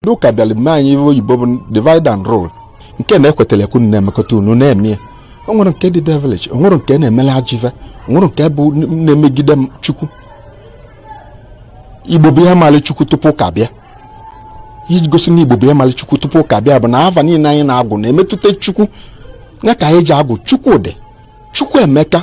ndị ụka bịara mee anyị ihe oyibo bụ divide and rule nke na-ekwetara ekwu na-emekọta unu na-eme ya o nwere nke dị devilish o nwere nke na-emela ajọ ive o nwere nke bụ na-emegide chukwu igbo bụ ihe mara chukwu tupu ụka bịa iji gosi na igbo bụ ihe mara chukwu tupu ụka bịa bụ na ava niile anyị na-agụ na-emetụta chukwu ya ka anyị ji agụ chukwudi chukwuemeka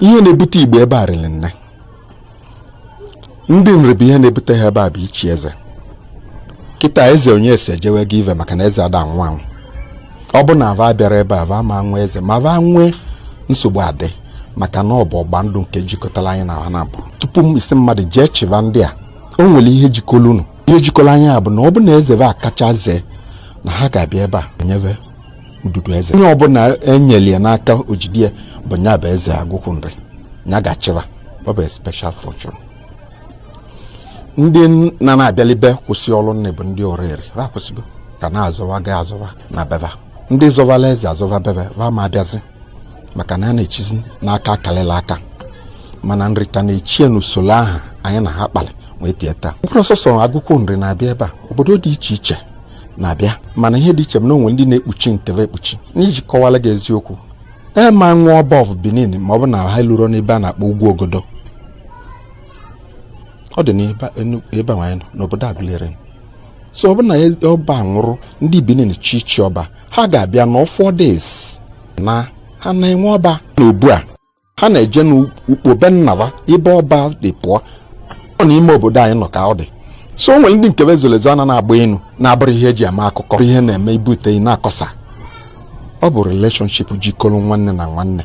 ihe na-ebute igbo ebe a rịrị nne ndị nri bụ ihe na-ebute ha ebe a bụ ichi eze kịta eze onyeso ejewe gị ive maka na eze ada anwụ anwụ ọ bụ na va abịarọ ebe a va ma nwe eze ma va nwee nsogbu adị maka na ọ bụ ọgba ndụ nke jikọtara anyị na ha naabọ tupu ị sị mmadụ jee chịba ndị a o nwere ihe jikọrọ unu ihe jikọrọ anyị bụ na ọ bụ na eze va kacha zee na ha ga-abịa ebe a nyebe ududu eze onye ọbụla enyeli ya n'aka o jide ya bụ nya bụ eze agụkwu nri nya ga-achịba ọ bụ special fortune ndị na na-abịalibe kwụsị ọrụ nne bụ ndị oreri ha kwụsịgo ka na-azọwa ga azọwa na be va ndị zọvala eze azọva bebe ha ma abịazi maka na a na-echizi n'aka akalịla aka mana nri ka na-echie n'usoro aha anyị na ha kpalị wee tie taa ọ bụrọ sọọsọ agụkwu nri na-abịa ebe a obodo dị iche iche na-abịa mana ihe dị iche bụ na o nwe ndị na-ekpuchi nke va ekpuchi n'iji kọwara gị eziokwu ma nwa ọba of benin ma ọ bụ na ha lụrụ n'ebe a na-akpọ ugwu ogodo ọ dị n'ebe anyị nọ n'obodo aguleri so ọ bụ na ọba nwụrụ ndị benin chọ ichi ọba ha ga-abịa nọọ four days na ha na-enwe ọba n'obu a ha na-eje n'ukpo be nna va ebe ọba si pụọ ọ n'ime obodo anyị nọ ka ọ dị so o nwere ndị nke va zolu ezo ana na-agba enu na-abụrụ ihe eji ama akụkọ ihe na-eme ibute na-akọsa ọ bụ relationship jikọrọ nwanne na nwanne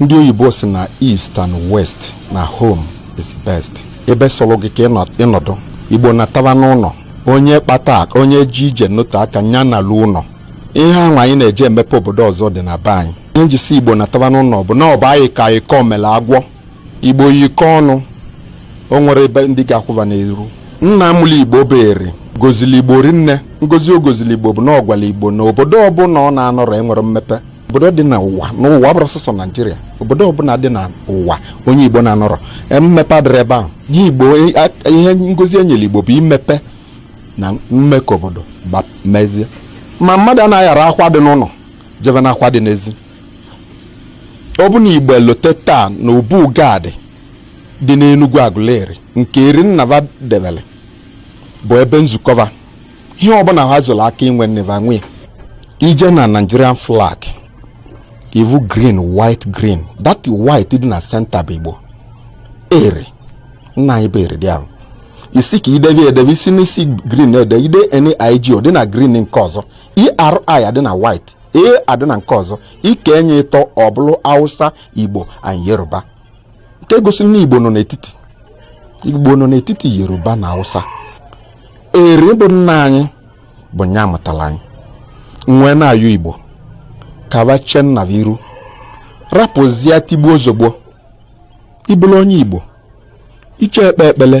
ndị oyibo sị na east and west na home is best ebe sọrọ gị ka ị nọdụ igbo nataba n'ụnọ onye kpata onye je ije nọte aka nya nalu ụnọ ihe ahụ anyị na-eje emepe obodo ọzọ dị na be anyị ihe m ji sị igbo nataba n'ụnọ bụ na ọ bụ ayikọ ayikọ mere agwọ igbo yikọ ọnụ o nwerọ ebe ndị ga-akwụ va n'iru nna mụlụ igbo bụ eri gozili igbo rinne ngozi o gozili igbo bụ na ọ gwala igbo na obodo ọbụla ọ na-anọrọ enwerọ mmepe obodo dị n'ụwa n'ụwa ọ bụrọ sọsọ naijiria obodo ọbụla dị n'ụwa onye igbo na-anọrọ e, mmepe adịrọ ebe ahụ ihe igbo e, ihe ngozi enyere igbo bụ imepe na ime ka obodo mezie ma mmadụ anaghị aghara akwa dị n'ụlọ jebe na akwa dị n'ezi ọ bụ na igbo elote taa na obu gad dị n'enugwu agụleri nke eri nna ba debere bụ ebe nzukọ ba ihe ọbụla ha zụrụ aka inwe nne ba nwe i jee na Nigerian flag ị vụ green white green that white dị na center bụ Igbo Eri nna anyị bụ Eri dị ahụ i si ka i debe edebe i si n'isi green ede i dee NIG ọ dị na green nke ọzọ ERI adị na white A adị na nke ọzọ i kee nya ịtọ ọ bụrụ Hausa Igbo and Yoruba nke gosiri na igbo nọ n'etiti igbo nọ n'etiti yoruba na hausa eri bụ nna anyị bụ nya mụtara anyị m wee na-ayọ igbo ka ba chee nna ba iru rapụzie tigbuo zọgbuo ị bụrụ onye igbo iche ekpe ekpele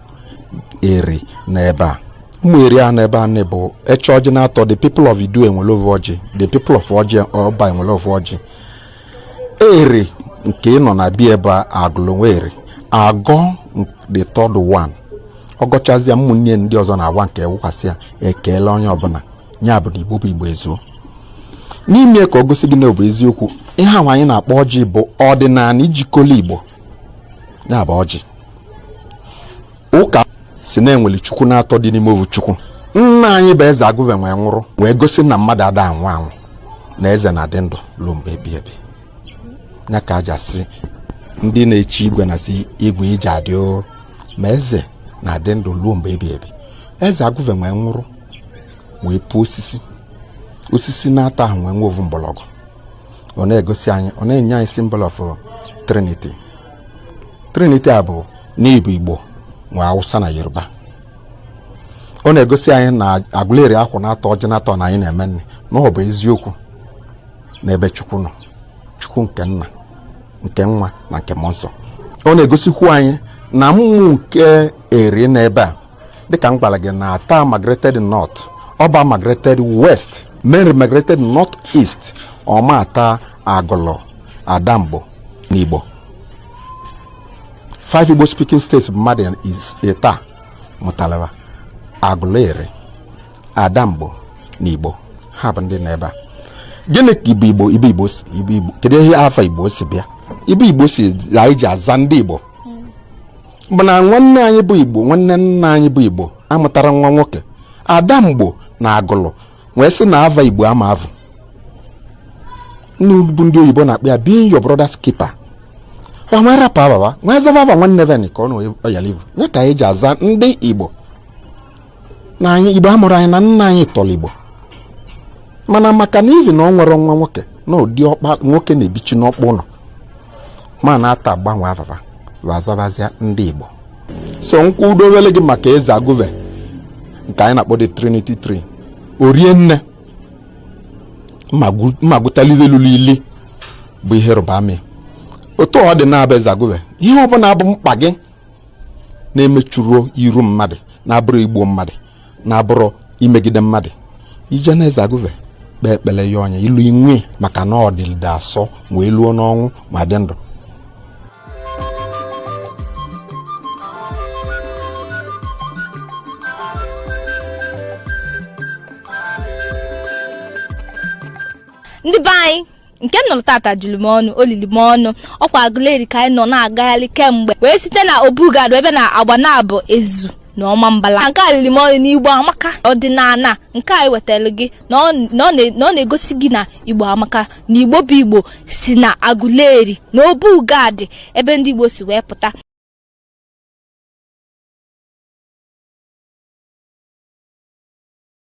eri n'ebe a ụmụ eri a n'ebe a na bụ e chee ọjị naatọ the people of idu ewere ovu ọjị the people of ọjị ọba ewere ovu ọjị eri nke ị nọ na bia ebe a agụlụ nwa eri agọọ the third one ọ gọchazịa ụmụnne ndị ọzọ na-awa nke awasịa ekeele onye ọbụla ya bụ na igbo bụ igbo ezuo na ime ka ọ gosi gị na ọ bụ eziokwu ihe ahụ anyị na-akpọ ọjị bụ ọdịnala jikọlụ igbo ya bụ ọjị ụka sị na enwere chukwu naatọ dị n'ime ovu chukwu nna anyị bụ eze agụve nwee nwụrụ wee gosi na mmadụ ada anwụ anwụ na eze na-adị ndụ ruo mgbe ebi ebi ya ka e ji asị ndị na-echi igwe na-asị igwe i je-adị o ma eze na-adị ndụ ruo mgbe ebi ebi eze agụve nwee nwụrụ wee puo osisi osisi naatọ ahụ nwee nwe ovu mgbọrọgwụ ọ na-egosi anyị ọ na-enye anyị symbol of trinity trinity a bụ na ọ bụ igbo nwe awụsa na yoruba ọ na-egosi anyị na agụleri akwụ naatọ ọjị naatọ na anyị na-eme nri na ọ bụ eziokwu n'ebe chukwu nọ chukwu nke nna nke nwa na nke mmụọ nsọ ọ na-egosikwu anyị na mmụọ nke eri nọ ebe a dịka m gwara gị na ata migrated north ọba migrated west menri migrated north east ọma ata agụlụ adamgbo na igbo five igbo speaking states bụ mmadụ ịtọ a mụtalụ ba agụlụ eri adamgbo na igbo ha bụ ndị nọ ebe a gịnị ka ibe igbo ibe igbo si ibe igbo kedu ihe afa igbo si bịa ibe igbo si anyị ji aza ndị igbo mana nwanne anyị bụ igbo nwanne nna anyị bụ igbo amụtarọ nwa nwoke adamgbo na agụlụ wee sị na ava igbo ama evu bụ ndị oyibo na-akpọ ya being your brother's keeper va wee rapụ ava va wee zava ava nwanne ve ka ọ na ọ yalị ivu ya ka anyị ji aza ndị igbo na anyị igbo amụrọ anyị na nna anyị tọrọ igbo mana maka na ivi na o nwerọ nwa nwoke na ụdị ọkpa nwoke na-ebichi n'ọkpụ ụnọ ma na-ata agbanwe ava va va azavazia ndị igbo so m kwudowele gị maka eze agụve nke anyị na-akpọ the trinity tree orie nne ma gwụtalive lụrụ ili bụ ihe rụba amị otu ọ dị na-abụ eze agụve ihe ọ bụla bụ mkpa gị na-emechurọ iru mmadụ na-abụrọ igbu mmadụ na-abụrọ imegide mmadụ i jee na eze agụve kpee ekpele ya ọnya ilu inwe maka na ọ dịlide asọ wee luo n'ọnwụ wee dị ndụ ndị be anyị nke m nụrụ tata juru m ọnụ o lili m ọnụ ọkwa agụleri ka anyị nọ na-agagharị kemgbe wee site na obu gad wee bee na agbanabọ ezu na ọmambala nke a lili m ọnụ n'igbo amaka ọdịnala nke anyị wetara gị na ọ na ọ na- na ọ na-egosi gị na igbo amaka na igbo bụ igbo si na agụleri na obu gad ebe ndị igbo si wee pụta